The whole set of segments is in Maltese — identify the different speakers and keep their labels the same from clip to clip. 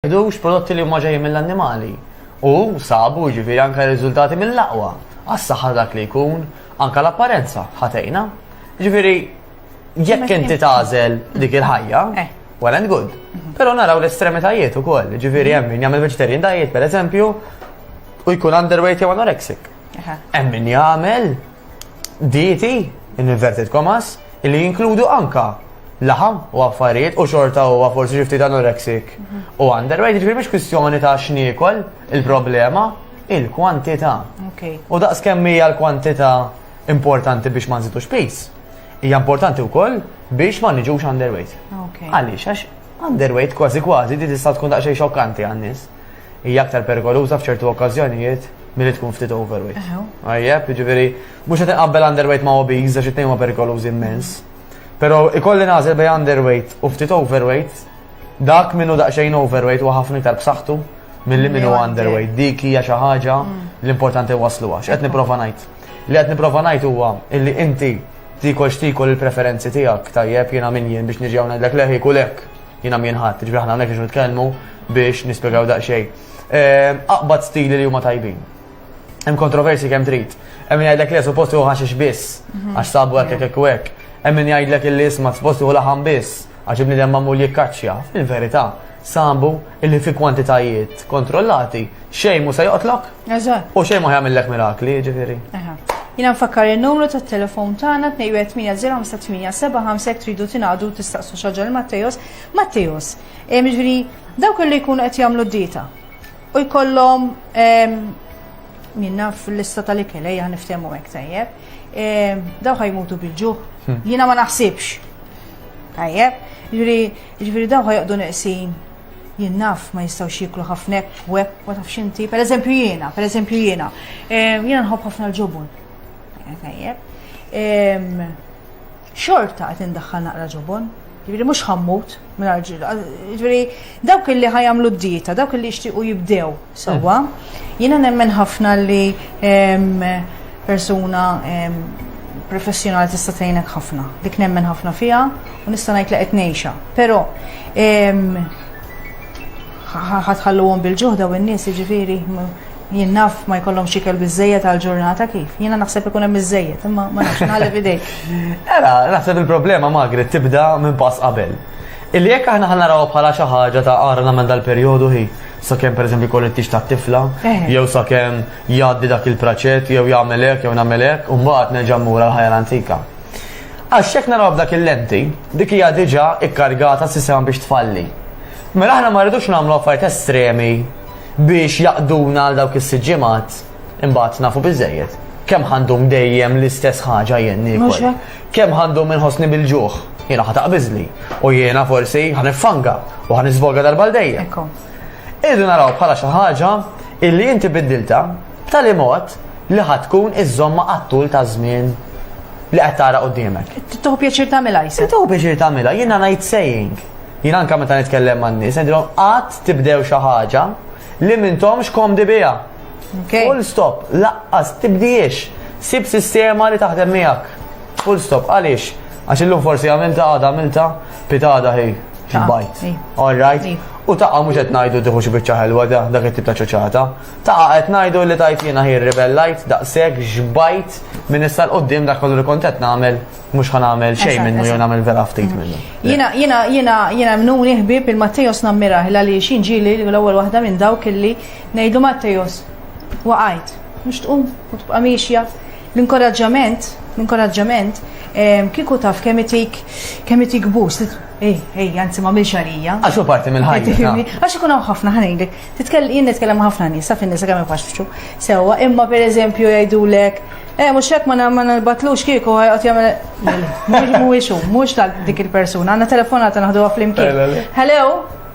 Speaker 1: Jdux prodotti li huma ġejjin mill-annimali u sabu ġifiri anka riżultati mill-laqwa għas-saħħa dak li jkun anka l-apparenza ħatejna. Ġifiri jekk inti tażel dik il-ħajja, eh. well and good. Mhm. Però naraw l-estremitajiet ukoll, ġifiri hemm min jagħmel vegetarian diet pereżempju u jkun underweight jew anorexic. Hemm min jagħmel dieti in inverted commas li jinkludu anka laħam u affarijiet u xorta u forsi xi ftit anorexic u underweight, ġifieri mhix kwistjoni ta' x'niekol il-problema il-kwantità. U daqs kemm hija l-kwantità importanti biex ma nżidux pis, hija importanti wkoll biex ma niġux underweight. Għaliex għax underweight kważi kważi di tista' tkun daqsxejn xokkanti għan-nies. hija aktar perikoluża f'ċertu okkażjonijiet milli tkun ftit overweight. Għajjeb, jiġifieri mhux qed inqabbel underweight ma' obese għax it-tnejn huma perikolużi immens. Però ikolli nagħżel bejn underweight u ftit overweight, dak minnu daqsxejn overweight huwa ħafna iktar b'saħħtu milli minnu underweight. Dik hija xi ħaġa mm. l-importanti waslu għax qed nipprova ngħid. Li qed nipprova ngħid huwa illi inti tikol x'tikol il-preferenzi tiegħek tajjeb jiena min jien biex niġi hawn ngħidlek leħi kulek. Jiena minn ħadd, ġifieri aħna hawnhekk biex nitkellmu biex nispjegaw daqsxejn. Ehm, aqbad stili li huma tajbin. Hemm kontroversi kemm trid. Hemm min jgħidlek li suppost hu ħaxix biss mhm. għax sabu hekk hekk hekk. Hemm min jgħidlek li isma' suppost hu laħam biss għax ibni demma mul jikkaċċja. Fil-verità, sambu illi fi kwantitajiet kontrollati xejn mu se joqtlok Eżatt. U xejn ma jagħmillek mirakli, jiġifieri. Jina nfakkar
Speaker 2: il-numru ta' telefon tagħna 2180875 tridu tingħadu tistaqsu xaġa l Mattejos. Mattejos, eh, ġifieri dawk li jkunu qed jagħmlu d-dieta u jkollhom ehm, minna fil-lista tal-ikel ejja eh, niftehmu hekk tajjeb. Ehm, daw ħajmutu bil-ġuħ. Hmm. Jiena ma naħsibx. Tajjeb, ġifieri daw ħajqdu neqsin Jien naf ma jistgħux jieklu ħafna web, ma tafx inti, pereżempju jiena, pereżempju jiena. Ehm, jiena nħobb ħafna l-ġobon. Ehm, xorta qed indaħħal naqra ġobon, ġifieri mhux ħammut minn ġifieri dawk li ħajamlu d-dieta, dawk li jixtiequ jibdew Sewwa, jiena nemmen ħafna li persuna professjonali tista' tgħinek ħafna. Dik nemmen ħafna fiha u nista' ngħid li qed ngħixha. Però ħatħalluhom bil-ġuħda u n-nies jiġifieri jien naf ma jkollhom xikel biżejjed għal ġurnata kif. Jiena naħseb ikun hemm biżejjed, imma ma nafx nħallef idejk. Era, naħseb
Speaker 1: il-problema magri tibda minn pass qabel. Illi jekk aħna ħanaraw bħala xi ħaġa ta' għarna minn dal-perjodu hi sakemm pereżempju jkollu t-tix tat-tifla, eh. jew sakemm jgħaddi dak il-praċett, jew jagħmel hekk, jew nagħmel hekk, u mbagħad nerġa' mmur għal ħajja antika. Għax jekk naraw dak il-lenti, dik hija diġà ikkargata s-sistema biex tfalli. Mela aħna ma rridux nagħmlu affarijiet estremi biex jaqduna għal dawk is-siġġimat. Imbagħad nafu biżejjed. Kemm ħandum dejjem l-istess ħaġa jien niekol. Kemm ħandum inħossni bil-ġuħ. Jiena ħataq biżli. U jiena forsi ħanifanga u ħanisvoga darba dejjem. Irdu naraw bħala xi ħaġa illi inti biddilta b'tali mod li ħatkun iż-żomma għattul ta' żmien li qed tara qudiemek. Tuħu pjaċir tagħmilha
Speaker 2: jsa. Tuħu pjaċir tagħmilha, jiena
Speaker 1: ngħid saying. Jiena anke meta nitkellem man-nies, ngħidilhom qatt tibdew xi ħaġa li m'intomx komdi biha. Okay. Full stop, laqqas tibdiex. Sib sistema li taħdem miegħek. Full stop, għaliex? Għax illum forsi għamilta għada għamilta pitada hi bajt. All right. U taqa mhux qed ngħidu tieħu xi biċċa ħelwa da dak it-tip ta' ċoċata. Taqa qed ngħidu li tajt jiena hi rebellajt daqshekk xbajt minn issa l-qudiem dak kollu li kont qed nagħmel mhux ħan nagħmel xejn minnu jew nagħmel vera ftit minnu. Jiena jiena jiena
Speaker 2: jiena mnuni ħbieb il-Mattejos nammirah għaliex inġieli l-ewwel waħda minn dawk illi Ngħidlu Mattejos, waqajt, mhux tqum u tibqa' miexja. L-inkoraġġament, l-inkoraġġament ehm, kieku taf kemm itik kemm itik bus. Ej, ej, anzi ma milx għalija. Għax hu parti mill-ħajja.
Speaker 1: Għax ikun hawn ħafna
Speaker 2: ħanejlek. Titkellem jien nitkellem ħafna nies, sa fin-nisa kemm ifaxxu. Sewwa, imma pereżempju jgħidulek Eh, mux hekk ma nalbatlux kieku għajqot jgħamil. Mux mux mux tal dik il-persuna, għanna telefonata naħdu għaflim kien. Hello?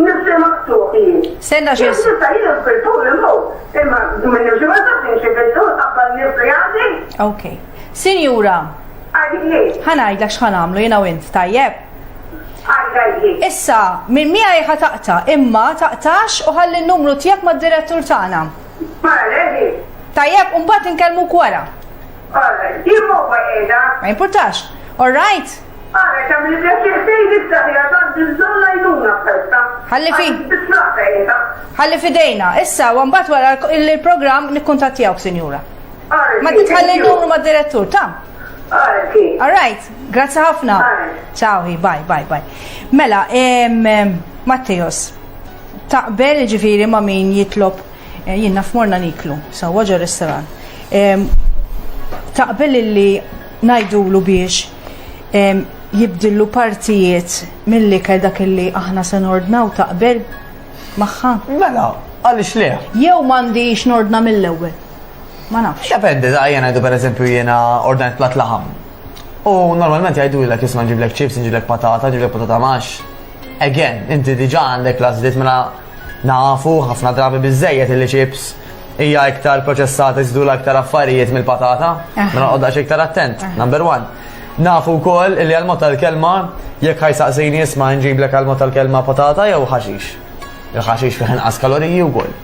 Speaker 3: Nifsi maqtuħ jien. Senna xie. Nifsa
Speaker 2: jien fil-tul
Speaker 3: il-mut. Imma minn nifsi ma tafx nxie fil-tul qabbal nifsi għandi. Ok.
Speaker 2: Sinjura. Għadini. Ħanajdlek xħan għamlu jina u int, tajjeb? Issa, minn mija jħa taqta, imma taqtax u ħalli n-numru tijak ma d-direttur tagħna. Tajjeb, un bat nkellmu kwara. Ma importax. All right? Ara kemm li pjaċir tgħid issa fiha tant il-bżonn l-għajnuna f'festa. Ħalli fi. Ħalli fidejna. Issa, u mbagħad wara il-programm nikkuntattjawk, sinjura. Ma titħalli numru ma' direttur, ta'. All right, grazzi ħafna. Ciao, bye, bye, bye. Mela, Matteos, taqbel ġifiri ma' min jitlob eh, jien naf morna niklu, sawa ġo restaurant. Taqbel illi ngħidulu biex jibdillu partijiet mill-ikel dak li aħna se nordnaw taqbel magħha? Mela,
Speaker 1: għaliex le? Jew m'għandix
Speaker 2: nordna mill-ewwel? Ma nafx. Dependi, da jiena ngħidu
Speaker 1: pereżempju jiena ordnajt plat laħam. U normalment jgħidulek isma' nġiblek chips, nġiblek patata, nġiblek patata max. Again, inti diġà għandek l-għażliet mela nafu ħafna drabi biżejjed il-chips hija iktar proċessata jżidula iktar affarijiet mill-patata, mela noqgħod daqs iktar attent, number one. Nafu wkoll li għal mod tal-kelma jekk ħajsaqsini isma' nġiblek għal mod tal-kelma patata jew ħaxix. Il-ħaxix fih inqas kaloriji wkoll.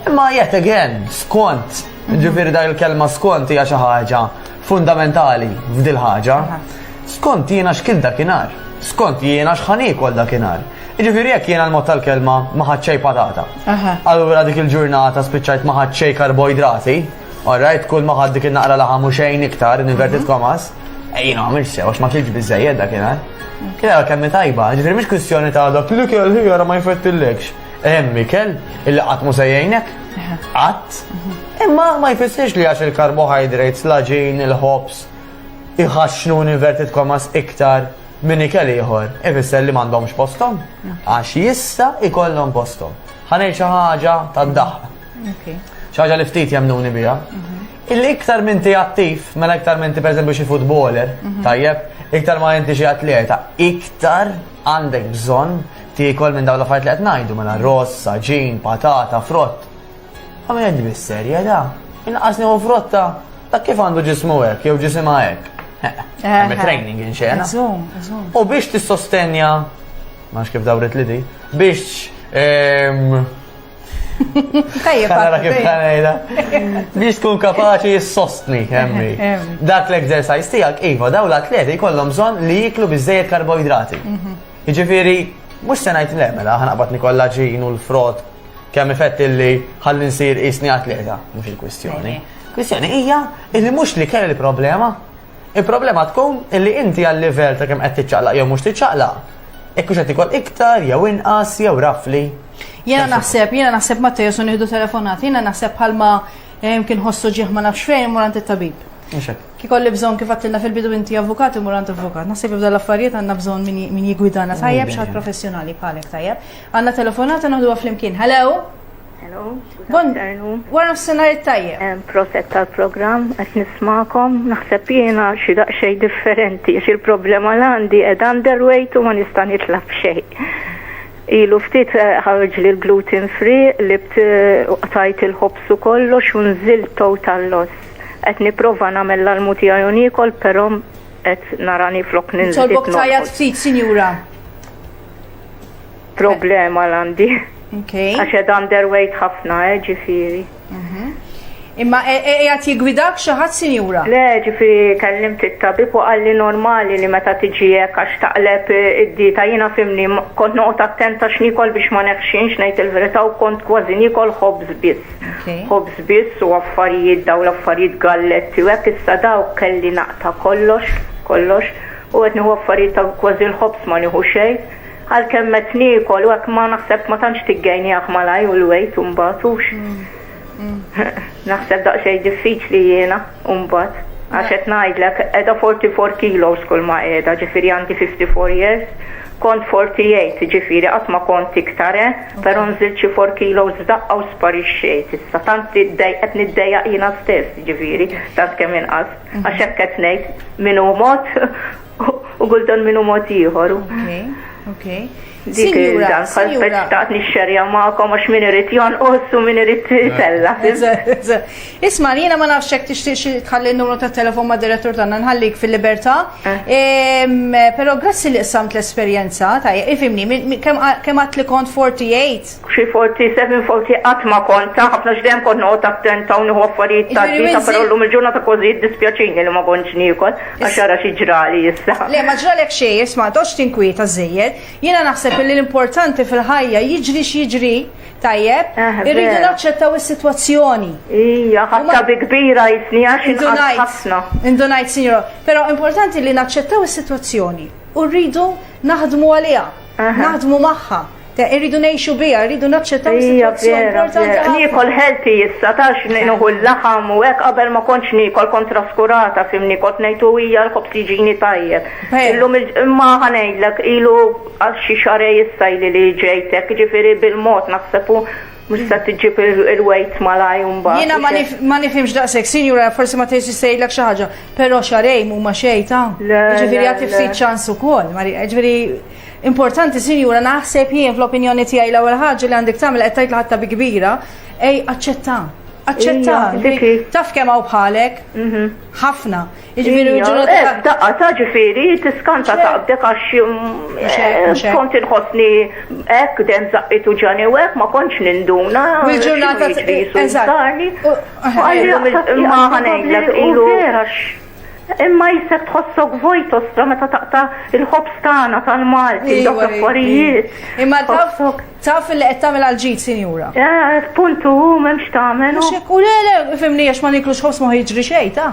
Speaker 1: Imma yet again, skont, ġifieri dak il-kelma skont hija xi ħaġa fundamentali f'dil ħaġa, skont jiena x'kil dakinhar, skont jiena x'ħan iekol dakinhar. Jiġifieri jekk jiena l-mod tal-kelma ma ħadd xejn patata. Allura dik il-ġurnata spiċċajt ma ħadd xejn karboidrati, alright, kull ma ħadd dik il-naqra laħam u xejn iktar, inverted mhm. komas, ejjina għamil sew għax ma kilġ biżejjed dakinhar. Kien kemm tajba, ġifieri mhix kwistjoni ta' dak li kelli ma jfettillekx. Hemm ikel illi qatt mhu se jgħinek. Qatt. Imma ma jfissirx li għax il-karbohydrates, l-għaġin, il-ħobż, iħaxxnu inverted commas iktar minn ikel ieħor, ifisser li m'għandhomx posthom. Għax jista' ikollhom posthom. Ħanejt xi ħaġa tad-daħq. Xi ħaġa li ftit jemnuni biha. Mhm. Illi iktar minn ti attiv, mela iktar minn ti pereżempju xi futboler, mhm. tajjeb, iktar ma inti xi atleta, iktar Għandek bżonn tiekol minn dawn l-affarijiet li qed ngħidu mela ross, saġin, patata, frott. Għamil qed bis-serja da. Inqas nieħu frotta ta' kif għandu ġismu hekk jew ġisimha hekk. Hemm training inxena. U biex tissostenja, ma kif dawret li di, biex ehm, Tajjeb. Għara kif għanajda. Biex tkun kapaċi jissostni, emmi. Dak l-exercise tijak, iva, daw l-atleti kollom bżon li jiklu bizzejed karboidrati. Mhm. Iġifiri, mux senajt le, mela, ħanaqbat nikolla ġin u l-frott, kemm effett li ħalli nsir isni atleta, mux il-kwistjoni. Kwistjoni hija illi mux li kelli problema, il-problema tkun illi inti għal-level ta' kemm qed tiċċaqlaq jew mhux tiċċaqlaq, ekkux qed ikol iktar jew inqas jew rafli. Jena naħseb,
Speaker 2: jena naħseb ma tejesu nieħdu telefonat, jena naħseb bħalma eh, kien ħossu ġieħ ma nafx fejn mur għand it-tabib. Ki kolli bżon kif għattilna fil-bidu inti avukat imur għand avukat. Naħseb jibda l-affarijiet għandna bżon min jigwidana tajjeb xaħat professjonali bħalek tajjeb. Għandna telefonat naħdu flimkien. Hello? Hello.
Speaker 4: Bon,
Speaker 2: wara s-senar tajjeb. Proset tal-program,
Speaker 4: għet nismakom, naħseb jena xi daqxej differenti, xi l-problema l-għandi ed underweight u ma nista' nitlab xejn. Ilu ftit ħareġli l-gluten free li qtajt il-ħobż u kollox u nżilt total loss. Qed nipprova nagħmel l-almu tiegħi u niekol però qed narani flok ninżel qed norqod. Nitolbok tgħajjat ftit
Speaker 2: sinjura.
Speaker 4: Problema l-għandi. Għax qed underweight ħafna eh ġifieri.
Speaker 2: Imma qiegħed jiggwidak xi ħadd sinjura? Le, ġifieri
Speaker 4: kellimt it-tabib u qalli normali li meta tiġi hekk għax taqleb id-dieta jiena fhimni kont noqgħod attenta x'niekol biex ma neħxinx ngħid il-verità u kont kważi niekol ħobż biss. Ħobż biss u affarijiet dawn l-affarijiet galletti u hekk issa dawk kelli naqta' kollox, kollox u qed nieħu affarijiet ta' kważi l-ħobż ma nieħu xejn. Għalkemm qed niekol u hekk ma naħseb ma tantx tiggejniah malajr u l-wejt u mbagħad hux. Naħseb daqsxejn diffiċli jiena u mbagħad. Għax qed ngħidlek qiegħda 44 kilos kull ma qiegħda, ġifieri għandi 54 years, kont 48 ġifieri qatt ma kont iktar eh, però nżilt xi 4 kilos f'daqqa u sparixxejt issa. Tant qed niddejjaq jiena stess ġifieri, tant kemm inqas. Għax hekk qed ngħid min hu mod U kultant minnu mod ieħor. Okej,
Speaker 2: okej. Dik
Speaker 4: il-dan, bħal speċtaqt nixxerja ma'kom għax min irid jonqos u min irid tella.
Speaker 2: Isma, jiena ma nafx hekk tixtieq tħalli n-numru ta' telefon ma' direttur tagħna nħallik fil-libertà. Eh. Però grazzi li qsamt l-esperjenza ta' ifimni kemm għad li kont 48 Xi forti, seven
Speaker 4: forti qatt ma kont ta' ħafna għax dejjem kont noqgħod attenta u nieħu affarijiet ta' dieta però llum il-ġurnata kważi jiddispjaċini li ma kontx niekol għax ara xi ġrali issa. Le ma ġralek xejn,
Speaker 2: isma' ma toqgħodx tinkwieta żżejjed. Jiena naħseb illi l-importanti fil-ħajja jiġri x'jiġri, tajjeb, irridu naċċettaw is-sitwazzjoni. Ija, ħadtha
Speaker 4: bi kbira jisni għax inqatt ħafna. Indunajt, Sinjura,
Speaker 2: però importanti li naċċettaw is-sitwazzjoni u rridu naħdmu għaliha. Naħdmu magħha. Irridu ngħixu biha, irridu naċċettaw is-sitwazzjoni importanti ħafna. Niekol healthy
Speaker 4: issa tax nieħu l-laħam u hekk qabel ma kontx niekol kont traskurata fimni kont ngħid u hija l-ħobż jiġini tajjeb. Illum imma ħanejdlek ilu għal xi xarej issa li ġejtek, ġifieri bil-mod naħseb Mhux se tiġib il-wejt malaj mbagħad. Jiena ma nifhimx
Speaker 2: daqshekk, sinjura forsi ma tgħidx sejlek xi ħaġa, però xarejn huma xejn ta'. Ġifieri jagħti ftit ċans ukoll, Marija. Ġifieri importanti sinjura naħseb jien fl-opinjoni tiegħi l-ewwel ħaġa li għandek tagħmel qed tgħid l-ħatta bi kbira, ej aċċetta. Aċċetta. Taf kemm hawn bħalek? Mhm. Ħafna. Jiġifieri l-ġurnata ta' qabd. Daqqa ta'
Speaker 4: ġifieri tiskanta ta' qabdek għax kont inħossni hekk dejjem żaqqit u ġani u hekk ma kontx ninduna. U l-ġurnata ta'
Speaker 2: jiżultani.
Speaker 4: Ma ħanejlek ilu. Imma jisek tħossok vojt ostra meta taqta' il-ħobs tagħna tal-Malti, dawk l-affarijiet. Imma
Speaker 2: taf li qed tagħmel għal ġid, sinjura. Puntu,
Speaker 4: m'hemmx tagħmel. U le,
Speaker 2: fimni għax ma niklux ħobs ma jiġri xejn ta'.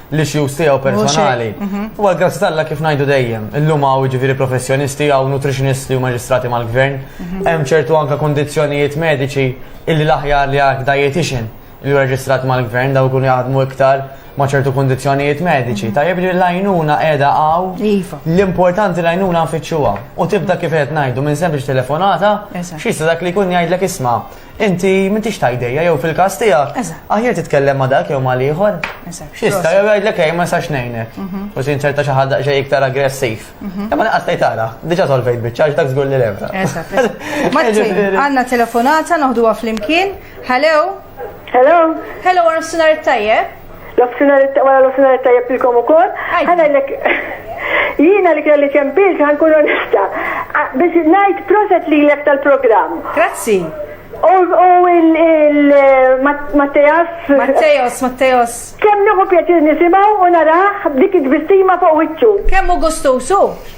Speaker 1: l-issues tiegħu personali. Mhm. U għal grazzi talla kif ngħidu dejjem, illum hawn ġifieri professjonisti hawn nutritionisti u maġistrati mal-gvern, mhm. hemm ċertu anke kondizzjonijiet mediċi illi l-aħjar li għak dietitian li reġistrat mal-gvern daw kun jaħdmu iktar ma' ċertu kondizjonijiet mediċi. Mhm. Tajjeb li l-għajnuna edha għaw iva. l-importanti l-għajnuna nfittxuha. U tibda kif qed ngħidu minn sempliċ telefonata, xista dak li jkun jgħidlek isma' Inti m'intix ta' idejja jew fil-każ tiegħek. Eżatt. Aħjar titkellem ma' dak jew ma' l-ieħor. Eżatt. Xista jew jgħidlek ej ma nistax ngħinek. Mhm. U sin ċerta xi ħadd daqsxejn iktar aggressiv. Mhm. Imma naqas tgħid ara, diġà solvejt biċċa dak żgur li lebra. Eżatt. eżatt. Martin,
Speaker 2: għandna telefonata noħduha flimkien. Hello. Hello.
Speaker 3: Hello, għarf
Speaker 2: sunar tajjeb. L-offsinar wara
Speaker 3: l-offsinar tajjeb ilkom ukoll. Ħa ngħidlek jiena li kelli ċempil ħa nkun onesta. Biex ngħid proset lilek tal-programm. Grazzi.
Speaker 2: U
Speaker 3: il-Matteos. Matteos, Matteos. Kemm nieħu pjaċir nisimgħu u narah b'dik it-tbissima fuq wiċċu. Kemm hu gustusu.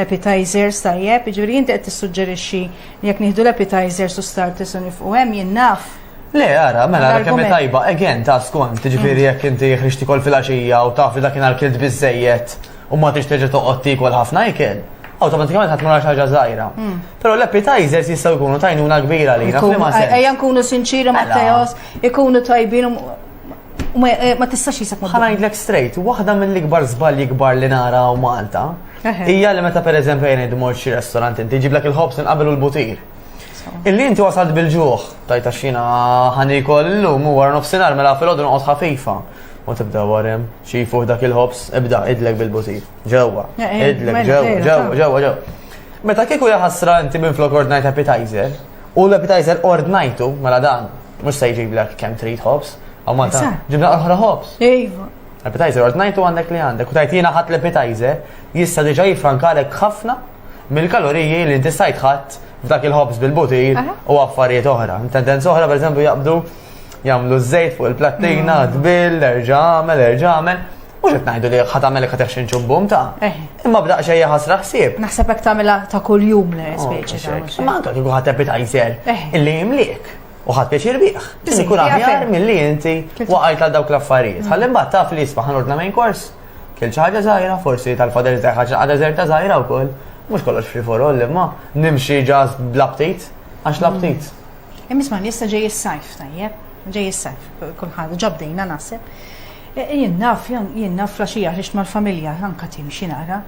Speaker 2: Appetizers, tajjeb, jiġifieri inti qed tissuġġerixxi li jekk nieħdu l-appetizers u starters u nifqu hemm jien naf. Le, ara, mela
Speaker 1: ara kemm tajba, again ta' skont, jiġifieri jekk inti ħriġt tikol fil-għaxija u taf li dakinhar kilt biżejjed u ma tix terġa' toqgħod tikol ħafna ikel, awtomatikament ħadd mara ħaġa żgħira. Hmm. Però l-appetizers jistgħu jkunu tajnuna kbira li Ejja nkunu sinċiri ma'
Speaker 2: mela. Teos, ikunu tajbin Ma tistax jisek ma. Ħanajdlek straight, waħda
Speaker 1: mill-ikbar żbalji kbar li nara u Malta hija li meta pereżempju jien idmur xi restorant inti ġiblek il-ħobs inqabel u l-butir. Illi inti wasalt bil-ġuħ, tajta xina ħanikol illum u wara nofsinhar mela fil-għodu noqgħod ħafifa. U tibda warem, xi fuq dak il-ħobs, ibda idlek bil-butir. Ġewwa, idlek ġewwa, ġewwa, ġewwa, ġewwa. Meta kieku jaħasra inti minn flok ordnajt appetizer, U l-appetizer ordnajtu, mela dan, mux se jġiblek kem trid ħobs, għaw ma ta' ġibna oħra ħobs. Ejva.
Speaker 2: Appetizer ordnajtu
Speaker 1: għandek li għandek, u tajt jina ħat l-appetizer, jista diġa jifrankalek ħafna mill-kaloriji li inti stajt ħadd f'dak il-ħobs bil-butir u affarijiet
Speaker 2: oħra.
Speaker 1: Tendenza oħra, per eżempju, jaqbdu jamlu z-zejt fuq il-plattina, d-bil, erġamel, erġamel. Mux qed ngħidu li ħat għamel kat xi nċubbum ta'. Eh. Imma b'daq xejja ħasra ħsieb. Naħseb hekk tagħmilha ta'
Speaker 2: kuljum le oh, speċi ta' mhux. Ma anke kieku ħadd appetizer
Speaker 1: eh. illi jimliek u ħadd pjaċir bih. Ikun aħjar
Speaker 2: milli
Speaker 1: inti
Speaker 2: waqajt
Speaker 1: għal dawk l-affarijiet. Ħalli mbagħad taf li jisma' ħanordna main course. Kien xi ħaġa żgħira forsi tal-fadel ta' ħaġa għadha żerta żgħira wkoll. Mhux kollox free for all imma nimxi ġas bl-aptit għax l-aptit. Hemm isma' issa
Speaker 2: ġej is-sajf tajjeb, ġej is-sajf, kulħadd ġabdejna naħseb. E, e, jien naf, jien naf flaxija ħriġt mal-familja anka timxi nara.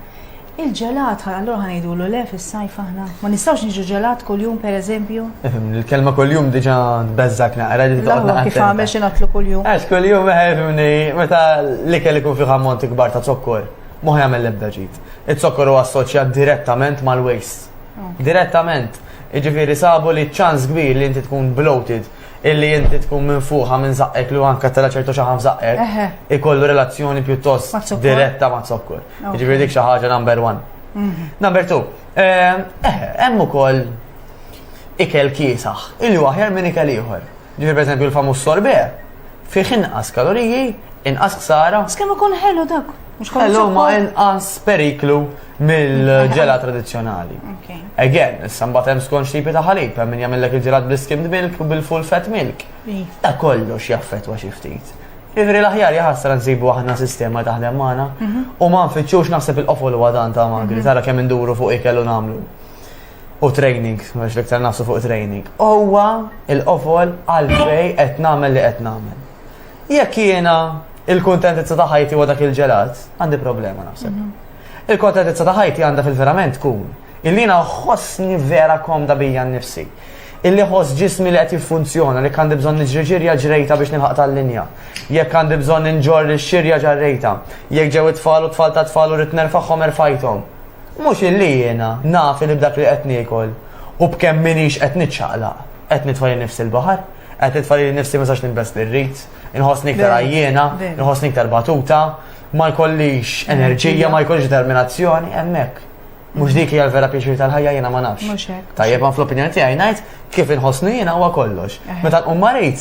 Speaker 2: Il-ġelat, allura ħanajdulu le fis-sajf aħna. Ma nistgħux niġu ġelat kuljum pereżempju. Il-kelma kuljum
Speaker 1: diġà tbeżżak naqra li taqgħod Kif għamel xi natlu
Speaker 2: kuljum. Għax kuljum eħefni
Speaker 1: eh, meta l-ikel ikun fih ammont ikbar ta' zokkor, mhux jagħmel l-ebda ġid. Iz-zokkor huwa assoċjat direttament mal-waste Direttament. Iġifiri sabu li ċans kbir li inti tkun bloated illi inti tkun minn fuħa minn zaqqek li għanka tela ċertu xaħam zaqqek, ikollu relazzjoni pjuttost diretta ma'
Speaker 2: zokkur.
Speaker 1: Ġifiri dik xaħġa number one. Mhm. Number two, eh, eh, hemm ukoll ikel kiesaħ, illi waħjar minn ikel ieħor. Ġifieri pereżempju l-famuż sorbet fih inqas kaloriji, inqas ħsara. Bas kemm ikun ħelu dak.
Speaker 2: Mhux kollu Ħelu ma zokkor. inqas
Speaker 1: periklu mill-ġela tradizzjonali. Okay. Again,
Speaker 2: issa mbagħad
Speaker 1: hemm skont x'tipi ta' ħalib, hemm min jagħmellek il-ġelat bl-skimmed milk u bil-full fat milk. Iva. Ta' kollox jaffettwa xi ftit. Ivri l-aħjar jaħasra nsibu aħna sistema taħdem magħna u ma nfittxux naħseb il-qofol huwa dan ta' magri, tara kemm induru fuq ikel u nagħmlu. u training, mhux l-iktar nafsu fuq training, huwa il-qofol għalfej qed nagħmel li qed nagħmel. Jekk jiena il-kuntentizza ta' ħajti huwa dak il-ġelat, għandi problema nafseb. Mhm. Il-kuntentizza ta' ħajti għandha fil-verament tkun illi ħossni vera komda bija nnifsi. Illi ħoss ġismi li qed jiffunzjona li għandi bżonn niġriġirja ġrejta biex nilħaq tal-linja. Jekk għandi bżonn inġor xirja ġarrejta. Jekk ġew it-tfal u tfal ta' tfal u rid nerfagħhom erfajthom. Mhux illi jiena naf li b'dak li qed niekol u b'kemm m'iniex qed niċċaqlaq, qed nitfa' lil nifsi l-baħar, qed nitfa' lili nnifsi ma nistax nilbes li rrid, inħossni iktar għajjiena, inħossni iktar batuta, ma jkollix enerġija, ma jkollix determinazzjoni, hemmhekk. Mhux dik hija l-vera pjaċir tal-ħajja jiena ma nafx. Tajjeb ma
Speaker 2: fl-opinjoni tiegħi
Speaker 1: ngħid kif inħossni jiena huwa kollox. Meta nqum marid,